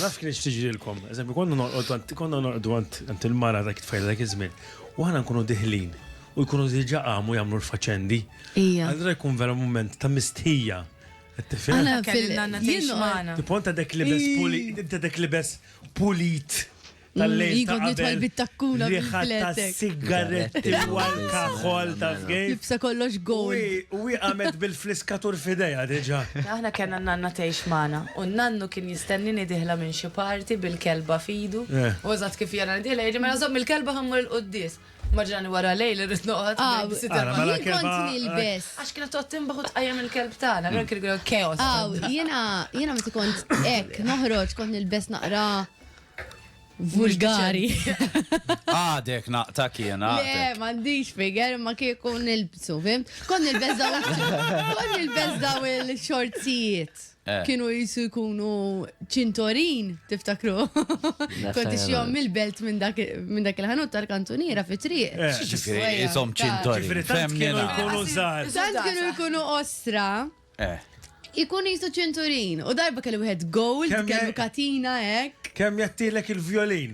Naf kienet x'tiġrilkom. Eżempju, konna norqodu għand konna norqdu għand għand il-mara dak it-tfajla dak iż-żmien u aħna nkunu diħlin u jkunu diġà qamu jagħmlu l-faċendi. Ija. Allura jkun vera mument ta' mistħija. Qed tifhem? Aħna Kelli fil- n-nanna jien tgħix noqgħod- magħna. Tipo inta dek libes puli inta dek libes pulit tal-lejl ta' qabel. bit-takkuna bil-fletek. Sigaretti wal kaħol ta' fgej. Jibsa kollox gol. U għamet bil-fliskatur fideja diġa. Aħna kena nanna tgħix magħna u nannu kien jistennini diħla minn xi parti bil-kelba fidu. U eżatt kif jena diħla jgħidli mela żomm il-kelba ħammur il-quddis. Maġrani wara lejl irrid noqgħod. Mela kont nilbes. Għax kienet toqgħod timbaħ u tqajjem il-kelb tagħna, għalhekk kien chaos. Jiena meta kont hekk noħroġ kont nilbes naqra vulgari. Għadek naqta kiena. Le, mandiġ figer, ma kieku nilbsu, fim? Kon nilbezzaw, kon nilbezzaw il-xorzijiet. Eh. Kienu jisu jkunu ċintorin, tiftakru. Konti xjom il-belt minn dak il-ħanut tal-kantuniera fi triq. Eh. Jisom ċintorin. Tant kienu jkunu zar. Tant kienu jkunu ostra. Eh. Ikun jisu ċinturin, u darba kellu wieħed gold, Kemm kellu je- katina hekk. Kemm jattilek il-vjolin?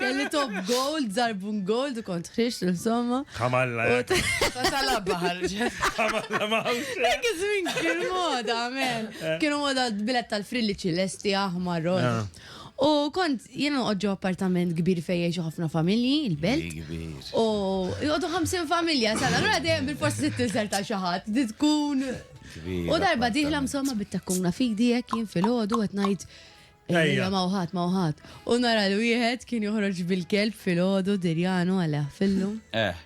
Kelli top gold, zarbun gold, u kont ħriġt, insomma. Kamalla, U t- Sala baħar. kamalla mawx. Dak iż-żmien kien moda, amen. Kienu moda bilet tal-frilli ċilesti, aħmar, rosa. U kont jien noqgħod ġo appartament kbir fejn jgħixu ħafna familji, il-belt. U jgħodu 50 familja sal allura dejjem bil-forsi se tinżel ta' xi ħadd, tkun. U darba diħla msomma bit-takkuna fidi hekk jien filgħodu qed ngħid Ejja ma wħad ma wħad. U nara l wieħed kien joħroġ bil-kelb filgħodu dirjanu għal fillu. Eh.